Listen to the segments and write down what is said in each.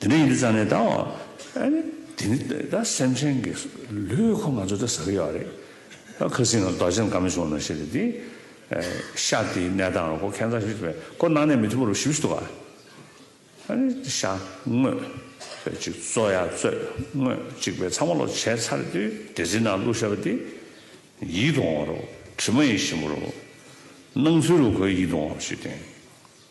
དེ་འདྲ་ཡིན་དུས་ཙམ་ནས་ད་དེ་ནི་ད་སེམས་ཅན་གྱི་ལུས་ཁོ་ང་ཚོ་ད་ཟ་གི་ཡོད་རེད། ད་ཁ་སིང་ངར་རྡོ་རྗེ་འགའ་མི་བྱུང་ན་ཤེས་རེད་དེ། ཤ་དེའི་གནས་སྟངས་ལ་ཁོ་ཁེན་ཚ་ཞིག་རེད། ཁོ་ནང་ནས་མི་ཐུབ་པོ་རུ་ཞིབ་ཞིབ་འདུག་ག། ཤ་དངོས་པོ་ཅིག་བཙོ་ཡ་བཙོས་དངོས་པོ་ཅིག་པའི་ཚ་མོ་ལོག་བྱས་ཚར་དུས་དེ་ཚོའི་ནང་བླུགས་ཤ་བ་དེ་ཡིད་དུ་འོང་བ་རུ་དྲི་མ་ཡིས་ཞིམ་པོ་རུ། སྣང་ཚུལ་རུ་ཁོའི་ཡིད་དུ་འོང་བ་ཞིག་བསྟན།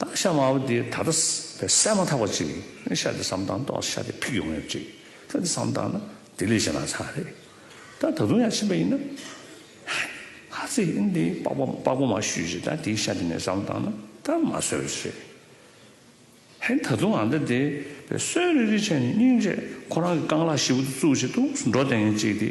སྟག་ཤ་དམར་པོ་དེ་ད་ལྟ་བསད་མ་ཐག་པ་ཅིག་ནི་ཤ་དེ་བསམ་སྟངས་ཏོག་ལ་ཤ་དེ་ཕིག་ཡོང་ངེས་ཅིག་ཤ་དེ་བསམ་སྟངས་ན་དེ་ལས་གཞན་ན་ཚ་རེད་ད་ད་དུང་ཡང་ཕྱིན་པ་ཡིན་ན། ཧ་ཚེ་ཡིན་དེ་པགས་པ་མ་བཤུས་ཤིག་ད་དེའི་ཤ་དེ་ནས་བསམ་སྟངས་ན་ད་མ་གསོད་རེད། ཧེ་ད་དུང་ང་འདི་དེ་བསོད་རེ་རེ་བྱས་ནས་སྙིང་རྗེ་ཁོ་རང་གི་རྐང་ལག་བཞི་པོ་དེ་བཙུགས་བྱེད་དུ་འགྲོ་བསྡད་ངེས་ཅིག་དེ།